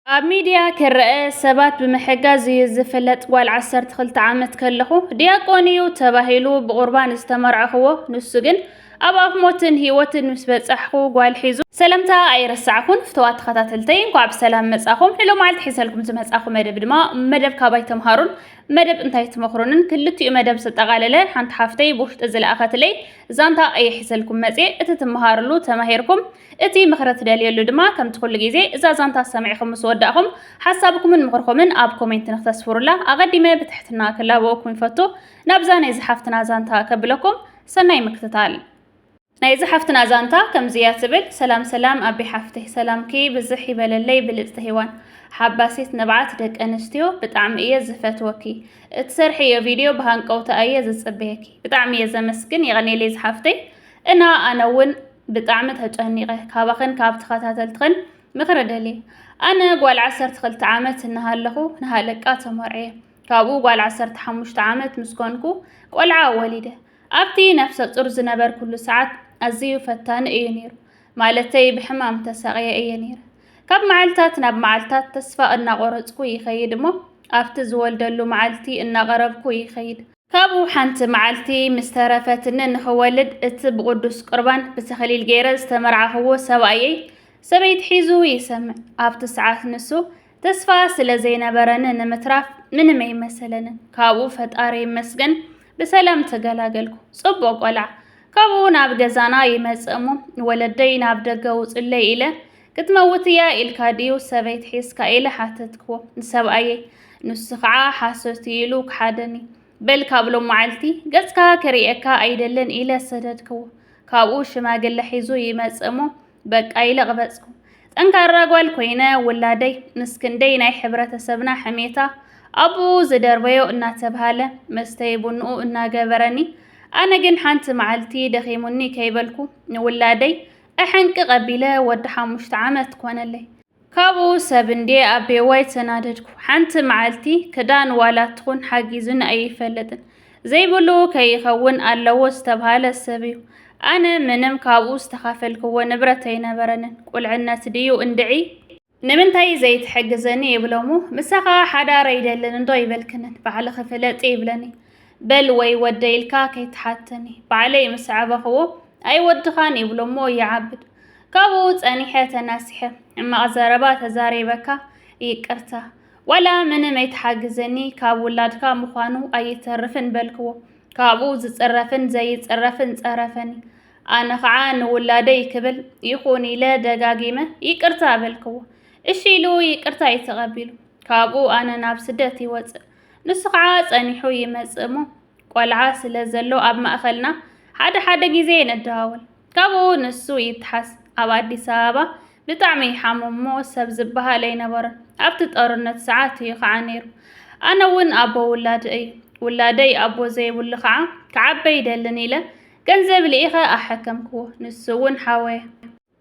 ኣብ ሚድያ ክረኣ ሰባት ብምሕጋዝ እዩ ዝፍለጥ ጓል ዓሰርተ ክልተ ዓመት ከለኹ ዲያቆን እዩ ተባሂሉ ብቑርባን ዝተመርዐኽዎ ንሱ ግን ኣብ ኣፍ ሞትን ህይወትን ምስ በጻሕኩ ጓል ሒዙ ሰለምታ ኣይረሳዕኩን ፍተዋት ተኸታተልተይ እንኳዕ ብሰላም መጻኹም ንሎ መዓልቲ ሒዘልኩም ዝመጻኹ መደብ ድማ መደብ ካባይ ተምሃሩን መደብ እንታይ ትመኽሩንን ክልቲኡ መደብ ዝጠቓለለ ሓንቲ ሓፍተይ ብውሽጢ ዝለኣኸትለይ ዛንታ እየ ሒዘልኩም መጽ እቲ ትመሃርሉ ተማሂርኩም እቲ ምኽሪ ትደልየሉ ድማ ከምቲ ኩሉ ግዜ እዛ ዛንታ ሰሚዕኹም ምስ ወዳእኹም ሓሳብኩምን ምኽርኹምን ኣብ ኮሜንት ንክተስፍሩላ ኣቐዲመ ብትሕትና ክላበወኩም ይፈቱ። ናብዛ ናይ ዝሓፍትና ዛንታ ከብለኩም። ሰናይ ምክትታል። ናይ ዝሓፍትና ዛንታ ከምዚ እያ ትብል። ሰላም ሰላም ኣቢ ሓፍተይ ሰላምኪ ብዝሕ ይበለለይ ብልጽቲ ሄዋን ሓባሲት ንብዓት ደቂ ኣንስትዮ ብጣዕሚ እየ ዝፈትወኪ እትሰርሕዮ ቪድዮ ብሃንቀውታ እየ ዝጽበየኪ ብጣዕሚ እየ ዘመስግን የቀኔለይ ዝሓፍተይ እና ኣነ እውን ብጣዕሚ ተጨኒቐ ካባኽን ካብ ተኸታተልትኽን ምኽሪ ደልየ ኣነ ጓል ዓሰርተ ክልተ ዓመት እናሃለኹ ንሃለቃ ተመርዕየ ካብኡ ጓል ዓሰርተ ሓሙሽተ ዓመት ምስ ኮንኩ ቆልዓ ወሊደ ኣብቲ ነፍሰ ጡር ዝነበርኩሉ ሰዓት ኣዝዩ ፈታኒ እዩ ነይሩ ማለተይ ብሕማም ተሳቕየ እየ ነይረ ካብ መዓልታት ናብ መዓልታት ተስፋ እናቆረፅኩ ይኸይድ እሞ ኣብቲ ዝወልደሉ መዓልቲ እናቐረብኩ ይኸይድ ካብኡ ሓንቲ መዓልቲ ምስ ተረፈትኒ ንኽወልድ እቲ ብቕዱስ ቁርባን ብተኸሊል ገይረ ዝተመርዓኽዎ ሰብኣየይ ሰበይቲ ሒዙ ይሰምዕ። ኣብቲ ሰዓት ንሱ ተስፋ ስለ ዘይነበረኒ ንምትራፍ ምንም ኣይመሰለንን። ካብኡ ፈጣሪ ይመስገን ብሰላም ተገላገልኩ። ጽቡቕ ቆልዓ። ካብኡ ናብ ገዛና ይመጽእ እሞ ወለደይ ናብ ደገ ውጹለይ ኢለ ክትመውት እያ ኢልካ ድዩ ሰበይት ሒዝካ ኢለ ሓተትክዎ ንሰብኣየይ ንሱ ከዓ ሓሶት እዩ ኢሉ ክሓደኒ በል ካብ ሎም መዓልቲ ገጽካ ክርእየካ ኣይደልን ኢለ ሰደድክዎ ካብኡ ሽማግለ ሒዙ ይመጽእ እሞ በቃ ኢለ ቅበጽኩ ጠንካራ ጓል ኮይነ ውላደይ ምስ ክንደይ ናይ ሕብረተሰብና ሕሜታ ኣብኡ ዝደርበዮ እናተብሃለ መስተይ ቡንኡ እናገበረኒ ኣነ ግን ሓንቲ መዓልቲ ደኺሙኒ ከይበልኩ ንውላደይ እሕንቂ ቀቢለ ወዲ ሓሙሽተ ዓመት ኮነለይ። ካብኡ ሰብ እንድየ ኣቤዋይ ተናደድኩ። ሓንቲ መዓልቲ ክዳን ዋላ ትኹን ሓጊዙኒ ኣይፈልጥን። ዘይብሉ ከይኸውን ኣለዎ ዝተብሃለ ሰብ እዩ። ኣነ ምንም ካብኡ ዝተኻፈልክዎ ንብረት ኣይነበረንን። ቁልዕነት ድዩ እንድዒ? ንምንታይ ዘይትሕግዘኒ ይብሎ እሞ ምሳ ከኣ ሓዳር ኣይደልን እንዶ ኣይበልክንን ባዕልኺ ፍለጢ ይብለኒ በል ወይ ወደይ ኢልካ ከይትሓተኒ ባዕለይ ምስ ዓበኽዎ ኣይወድኻን ይብሎ እሞ ይዓብድ ካብኡ ጸኒሐ ተናሲሐ ሕማቕ ዘረባ ተዛሪበካ ይቅርታ ዋላ ምንም ኣይትሓግዘኒ ካብ ውላድካ ምዃኑ ኣይተርፍን በልክዎ ካብኡ ዝጽረፍን ዘይጽረፍን ጸረፈኒ ኣነ ኸዓ ንውላደይ ክብል ይኹን ኢለ ደጋጊመ ይቅርታ በልክዎ። እሺ ኢሉ ይቅርታይ ተቐቢሉ። ካብኡ ኣነ ናብ ስደት ይወፅእ። ንሱ ኸዓ ፀኒሑ ይመፅእ እሞ ቆልዓ ስለ ዘሎ ኣብ ማእኸልና ሓደ ሓደ ግዜ ንደዋወል። ካብኡ ንሱ ይተሓዝ። ኣብ ኣዲስ ኣበባ ብጣዕሚ ይሓምም እሞ ሰብ ዝበሃል ኣይነበሮን። ኣብቲ ጦርነት ሰዓት እዩ ኸዓ ነይሩ። ኣነ እውን ኣቦ ውላድ እይ። ውላደይ ኣቦ ዘይብሉ ኸዓ ክዓበ ይደልን ኢለ ገንዘብ ልኢኸ ኣሐከምክዎ፣ ንሱ'ውን ሓወየ።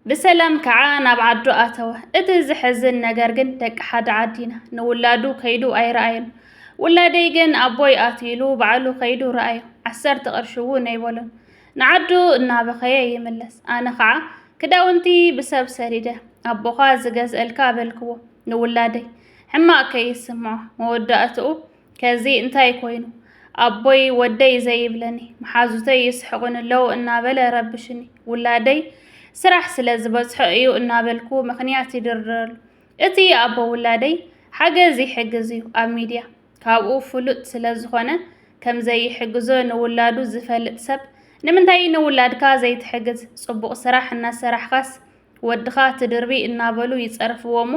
ብሰላም ከኣ ናብ ዓዱ ኣተወ። እቲ ዘሕዝን ነገር ግን ደቂ ሓደ ዓዲ ኢና፣ ንውላዱ ከይዱ ኣይረኣዮን። ውላደይ ግን ኣቦይ ኣትዩ ኢሉ ባዕሉ ከይዱ ረኣዮ፣ ዓሰርተ ቅርሺ'ውን ኣይበሎን። ንዓዱ እናበኸየ ይምለስ። ኣነ ከኣ ክዳውንቲ ብሰብ ሰዲደ፣ ኣቦኻ ዝገዝእልካ በልክዎ ንውላደይ፣ ሕማቕ ከይስምዖ። መወዳእትኡ ከዚ እንታይ ኮይኑ ኣቦይ ወደይ ዘይብለኒ፣ መሓዙተይ ይስሕቑኒ'ለዉ እናበለ ረብሹኒ፣ ውላደይ ስራሕ ስለ ዝበዝሖ እዩ እናበልኩ ምኽንያት ይድርድረሉ። እቲ ኣቦ ውላደይ ሓገዝ ይሕግዝ እዩ ኣብ ሚድያ፣ ካብኡ ፍሉጥ ስለ ዝኾነ ከም ዘይሕግዞ ንውላዱ ዝፈልጥ ሰብ ንምንታይ ንውላድካ ዘይትሕግዝ፣ ፅቡቕ ስራሕ እናሰራሕኻስ ወድኻ ትድርቢ እናበሉ ይጸርፍዎ'ሞ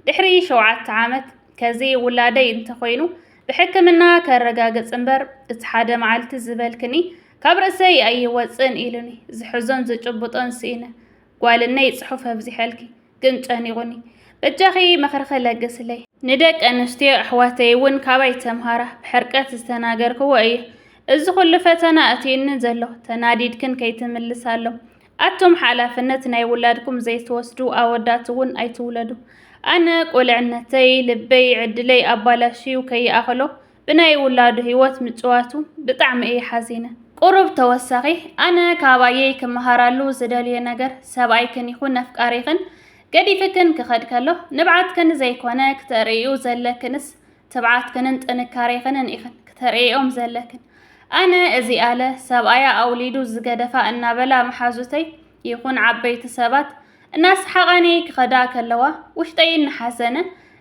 ድሕሪ ሸውዓተ ዓመት ከዚ ውላደይ እንተኾይኑ ብሕክምና ከረጋግጽ እምበር እቲ ሓደ መዓልቲ ዝበልክኒ ካብ ርእሰይ ኣይወጽእን ኢሉኒ ዝሕዞን ዝጭብጦን ስኢነ ጓልነይ ጽሑፍ ኣብዚሐልኪ ግን ጨኒቑኒ በጃኺ ምኽርኺ ለግስለይ ንደቂ ኣንስትዮ ኣሕዋተይ እውን ካባይ ተምሃራ ብሕርቀት ዝተናገርክዎ እየ እዚ ኩሉ ፈተና ኣትዩኒ ዘሎ ተናዲድክን ከይትምልሳሎም ኣቱም ሓላፍነት ናይ ውላድኩም ዘይትወስዱ ኣወዳት እውን ኣይትውለዱ። ኣነ ቁልዕነተይ ልበይ ዕድለይ ኣባላሽዩ ከይኣኸሎ ብናይ ውላዱ ህይወት ምጭዋቱ ብጣዕሚ እየ ሓዚነ። ቁሩብ ተወሳኺ ኣነ ካብ ኣየይ ክመሃራሉ ዝደልዮ ነገር ሰብኣይክን ይኹን ኣፍቃሪኽን ገዲፍክን ክኸድ ከሎ ንብዓትክን ዘይኮነ ክተርእይኡ ዘለክንስ ትብዓትክንን ጥንካሬኽንን ኢኽን ክተርእይኦም ዘለክን ኣነ እዚኣለ ሰብኣያ ኣውሊዱ ዝገደፋ እናበላ መሓዙተይ ይኹን ዓበይቲ ሰባት እናሰሓቓኒ ክኸዳ ከለዋ ውሽጠይ እናሓዘነ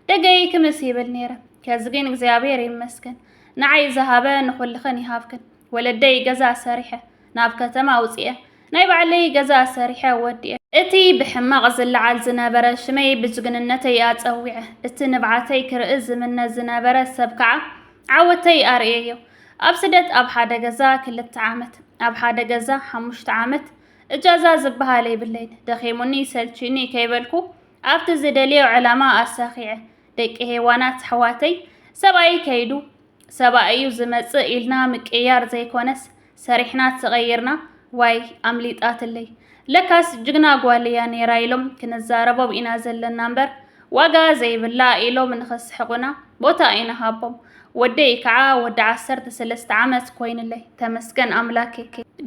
ደገይ ክምስ ይብል ነይረ ከዚ ግን እግዚኣብሔር ይመስገን ንዓይ ዝሃበ ንኹልኽን ይሃብክን ወለደይ ገዛ ሰሪሐ ናብ ከተማ ውፅኤ ናይ ባዕለይ ገዛ ኣሰሪሐ ወዲኤ። እቲ ብሕማቕ ዝለዓል ዝነበረ ሽመይ ብጅግንነተይ ኣጸዊዐ። እቲ ንብዓተይ ክርኢ ዝምነ ዝነበረ ሰብ ከዓ ዓወተይ ኣርእየዮ። ኣብ ስደት ኣብ ሓደ ገዛ ክልተ ዓመት፣ ኣብ ሓደ ገዛ ሓሙሽተ ዓመት፣ እጃዛ ዝበሃል የብለይን። ደኺሙኒ ሰልችዩኒ ከይበልኩ ኣብቲ ዝደልዮ ዕላማ ኣሳኺዐ። ደቂ ሄዋናት ኣሕዋተይ ሰብኣየይ ከይዱ ሰባእ እዩ ዝመፅእ ኢልና ምቅይያር ዘይኮነስ ሰሪሕና ተቀይርና ዋይ ኣምሊጣትለይ ለካስ ጅግና ጓል እያ ነይራ ኢሎም ክንዛረቦም ኢና ዘለና እምበር ዋጋ ዘይብላ ኢሎም ንኸስሕቁና ቦታ ኣይንሃቦም ወደይ ከዓ ወዲ ዓሰርተ ሰለስተ ዓመት ኮይንለይ ተመስገን ኣምላኬ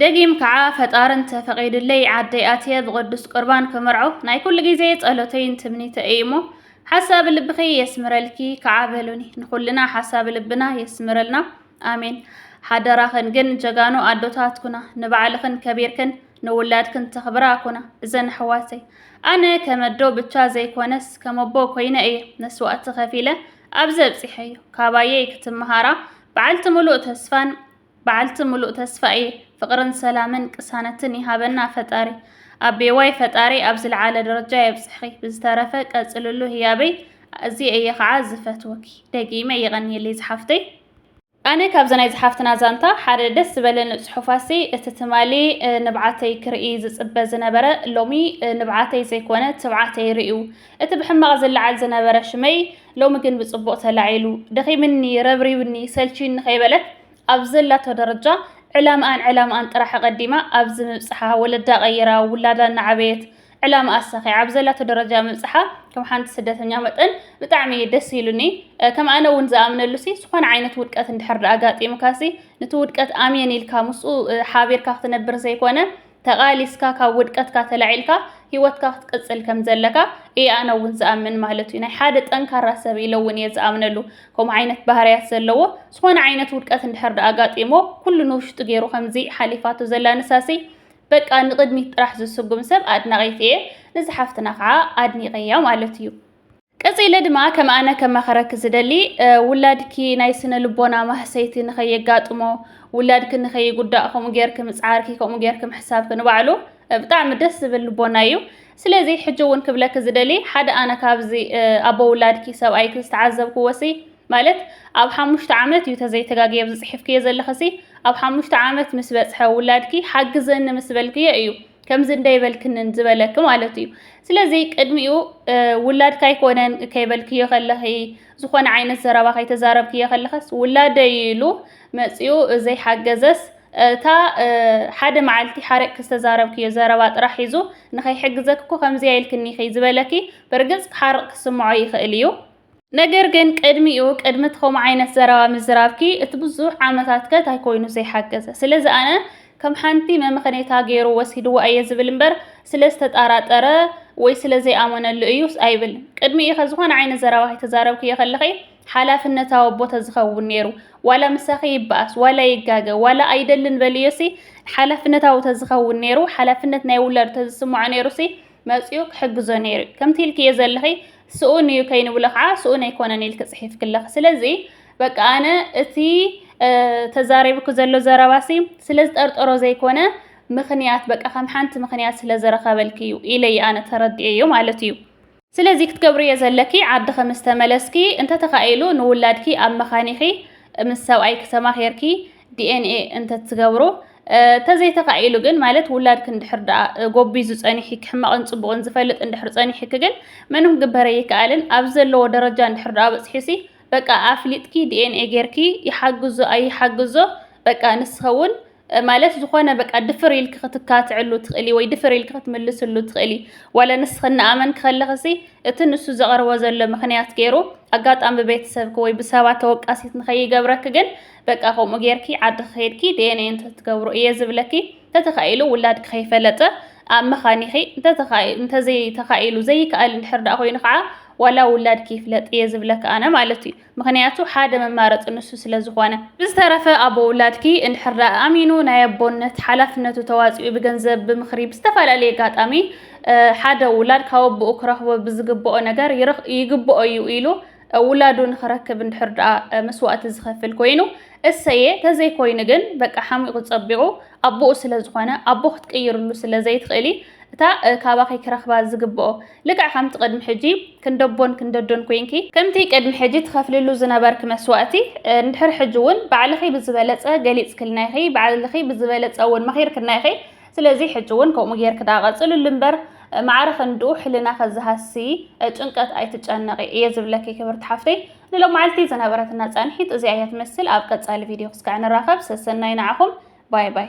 ደጊም ከዓ ፈጣሪ እንተፈቂድለይ ዓደይ ኣትየ ብቅዱስ ቁርባን ክምርዖ ናይ ኩሉ ግዜ ፀሎተይን ትምኒተይ እዩ እሞ ሓሳብ ልብኺ የስምረልኪ ከዓ በሉኒ ንኩልና ሓሳብ ልብና የስምረልና ኣሜን። ሓደራኽን ግን ጀጋኑ ኣዶታት ኩና ንባዕልኽን ከቢርክን ንውላድክን ተኽብራ ኩና እዘን ኣሕዋተይ ኣነ ከመዶ ብቻ ዘይኮነስ ከመቦ ኮይነ እየ መስዋእቲ ከፊለ ኣብዚ ኣብፂሐዮ ካባየይ ክትመሃራ በዓልቲ ሙሉእ ተስፋን በዓልቲ ሙሉእ ተስፋ እየ ፍቅርን ሰላምን ቅሳነትን ይሃበና ፈጣሪ። ኣቤዋይ ፈጣሪ ኣብ ዝልዓለ ደረጃ የብጽሕኺ ብዝተረፈ ቀጽልሉ ህያበይ ኣዝየ እየ ከዓ ዝፈትወኪ ደጊመ የቀንየለይ ዝሓፍተይ። ኣነ ካብዚ ናይ ዝሓፍትና ዛንታ ሓደ ደስ ዝበለኒ ጽሑፋሲ እቲ ትማሊ ንብዓተይ ክርኢ ዝጽበ ዝነበረ ሎሚ ንብዓተይ ዘይኮነ ትብዓተይ ርእዩ እቲ ብሕማቕ ዝለዓል ዝነበረ ሽመይ ሎሚ ግን ብጽቡቕ ተላዒሉ፣ ደኺምኒ፣ ረብሪብኒ፣ ሰልችዩኒ ከይበለት ኣብ ዘላቶ ደረጃ ዕላምኣን ዕላምኣን ጥራሕ ኣቐዲማ ኣብዚ ምብጽሓ፣ ወለዳ ቀይራ፣ ውላዳ እናዓበየት ዕላምኣ ኣሳኺዓ ኣብ ዘላቶ ደረጃ ምብጽሓ ከም ሓንቲ ስደተኛ መጠን ብጣዕሚ ደስ ኢሉኒ። ከም ኣነ እውን ዝኣምነሉሲ ዝኾነ ዓይነት ውድቀት እንድሕር ኣጋጢሙካሲ ንቲ ውድቀት ኣሜን ኢልካ ምስኡ ሓቢርካ ክትነብር ዘይኮነ ተቓሊስካ ካብ ውድቀትካ ተላዒልካ ሂወትካ ክትቅጽል ከም ዘለካ እየ ኣነ እውን ዝኣምን ማለት እዩ። ናይ ሓደ ጠንካራ ሰብ ኢለ እውን እየ ዝኣምነሉ። ከምኡ ዓይነት ባህርያት ዘለዎ ዝኾነ ዓይነት ውድቀት እንድሕር ደኣ ኣጋጢሞ ኩሉ ንውሽጡ ገይሩ ከምዚ ሓሊፋቶ ዘላ ንሳሲ በቃ ንቕድሚት ጥራሕ ዝስጉም ሰብ ኣድናቒት እየ። ንዛ ሓፍትና ከዓ ኣድኒቐያ ማለት እዩ። ቀጺለ ድማ ከም ኣነ ከማኸረኪ ዝደሊ ውላድኪ ናይ ስነ ልቦና ማህሰይቲ ንኸየጋጥሞ ውላድኪ ንኸይጉዳእ ከምኡ ጌርኪ ምጽዓርኪ ከምኡ ጌርኪ ምሕሳብኪ ንባዕሉ ብጣዕሚ ደስ ዝብል ልቦና እዩ ስለዚ ሕጂ እውን ክብለኪ ዝደሊ ሓደ ኣነ ካብዚ ኣቦ ውላድኪ ሰብኣይኪ ዝተዓዘብክዎ ሲ ማለት ኣብ ሓሙሽተ ዓመት እዩ ተዘይተጋግየ ኣብዚ ጽሒፍክዮ ዘለኺ ሲ ኣብ ሓሙሽተ ዓመት ምስ በጽሐ ውላድኪ ሓግዘኒ ምስ በልክዮ እዩ ከምዚ እንደይበልክንን ዝበለኪ ማለት እዩ ስለዚ ቅድሚኡ ውላድካ ኣይኮነን ከይበልክዮ ከለኺ ዝኾነ ዓይነት ዘረባ ከይተዛረብክዮ ከለኸስ ውላደይ ኢሉ መፂኡ ዘይሓገዘስ እታ ሓደ መዓልቲ ሓረቅ ዝተዛረብክዮ ዘረባ ጥራሕ ሒዙ ንኸይሕግዘክ እኮ ከምዚ ኢልክኒ ኢኺ ዝበለኪ ብርግፅ ሓርቕ ክስምዖ ይኽእል እዩ ነገር ግን ቅድሚኡ ቅድሚ እቲ ከምኡ ዓይነት ዘረባ ምዝራብኪ እቲ ብዙሕ ዓመታት ከ እንታይ ኮይኑ ዘይሓገዘ ስለዚ ኣነ ከም ሓንቲ መምኸኔታ ገይሩ ወሲድዎ ኣየ ዝብል እምበር ስለ ዝተጣራጠረ ወይ ስለ ዘይኣመነሉ እዩ ኣይብል ቅድሚ ኢኸ ዝኾነ ዓይነት ዘረባ ከይተዛረብክዮ ከለኺ ሓላፍነታዊ ኣቦ ተዝኸውን ነይሩ ዋላ ምሳኺ ይበኣስ ዋላ ይጋገ ዋላ ኣይደልን በልዮሲ ሓላፍነታዊ ተዝኸውን ነይሩ ሓላፍነት ናይ ውላዱ ተዝስምዖ ነይሩሲ መጺኡ ክሕግዞ ነይሩ እዩ። ከምቲ ኢልክዮ ዘለኺ ስኡን እዩ ከይንብሎ ከዓ ስኡን ኣይኮነን ኢልኪ ጽሒፍክለኺ። ስለዚ በቃ ኣነ እቲ ተዛሪብኪ ዘሎ ዘረባሲ ስለ ዝጠርጠሮ ዘይኮነ ምኽንያት በቃ ከም ሓንቲ ምኽንያት ስለ ዝረኸበልኪ እዩ ኢለይ ኣነ ተረዲኤዮ ማለት እዩ። ስለዚ ክትገብርዮ ዘለኪ ዓድኺ ምስ ተመለስኪ እንተተኻኢሉ ንውላድኪ ኣብ መኻኒኺ ምስ ሰብኣይኪ ተማኺርኪ ዲኤንኤ እንተትገብሩ ተዘይተኻኢሉ ግን ማለት ውላድክ እንድሕር ደኣ ጎቢዙ ጸኒሒክ ሕማቕን ጽቡቕን ዝፈልጥ እንድሕር ጸኒሒክ ግን ምንም ግበረ ይከኣልን ኣብ ዘለዎ ደረጃ እንድሕር ደኣ በጽሒሲ በቃ ኣፍሊጥኪ ዲኤንኤ ጌርኪ ይሓግዞ ኣይሓግዞ በቃ ንስኸውን ማለት ዝኾነ በቃ ድፍር ኢልክ ክትካትዕሉ ትኽእሊ ወይ ድፍር ኢልክ ክትምልስሉ ትኽእሊ ዋለ ንስኽ እናኣመንክ ከለኽሲ እቲ ንሱ ዘቐርቦ ዘሎ ምክንያት ገይሩ ኣጋጣሚ ብቤተሰብክ ወይ ብሰባት ተወቃሲት ንኸይገብረክ ግን በቃ ከምኡ ጌርኪ ዓድኺ ከይድኪ ዲኤንኤ እንተትገብሩ እየ ዝብለኪ እንተተኻኢሉ ውላድኪ ከይፈለጠ ኣብ መኻኒኺ እንተዘይተኻኢሉ ዘይከኣል እንድሕር ደኣ ኮይኑ ከዓ ዋላ ውላድኪ ይፍለጥ እየ ዝብለኪ ኣነ ማለት እዩ ምክንያቱ ሓደ መማረፂ ንሱ ስለ ዝኾነ ብዝተረፈ ኣቦ ውላድኪ እንድሕር ደኣ ኣሚኑ ናይ ኣቦነት ሓላፍነቱ ተዋፂኡ ብገንዘብ ብምክሪ ብዝተፈላለየ ኣጋጣሚ ሓደ ውላድ ካብ ኣቦኡ ክረኽቦ ብዝግብኦ ነገር ይግብኦ እዩ ኢሉ ውላዱ ንክረክብ እንድሕር ደኣ መስዋእቲ ዝኸፍል ኮይኑ እሰየ፣ ተዘይኮይኑ ግን በቃ ሓሚቑ ጸቢቑ ኣቦኡ ስለ ዝኾነ ኣቦ ክትቅይርሉ ስለ ዘይትኽእሊ እታ ካባኺ ክረኽባ ዝግብኦ ልክዕ ከምቲ ቅድሚ ሕጂ ክንደቦን ክንደዶን ኮይንኪ ከምቲ ቅድሚ ሕጂ ትኸፍልሉ ዝነበርኪ መስዋእቲ እንድሕር ሕጂ እውን ባዕልኺ ብዝበለጸ ገሊጽክልና ኢኺ፣ ባዕልኺ ብዝበለጸ እውን መኺርክና ኢኺ፣ ስለዚ ሕጂ ውን ከምኡ ጌርኪ ደኣ ቀጽልሉ እምበር ማዕረ ክንድኡ ሕልናኺ ዝሃሲ ጭንቀት ኣይትጨነቒ እየ ዝብለኪ ክብርቲ ሓፍተይ። ንሎማዓልቲ ዝነበረትና ጻንሒት እዚኣ እያ ትመስል ኣብ ቀጻሊ ቪድዮ ክስካዕ ንራኸብ ሰሰናዩ ንዓኹም ባይ ባይ።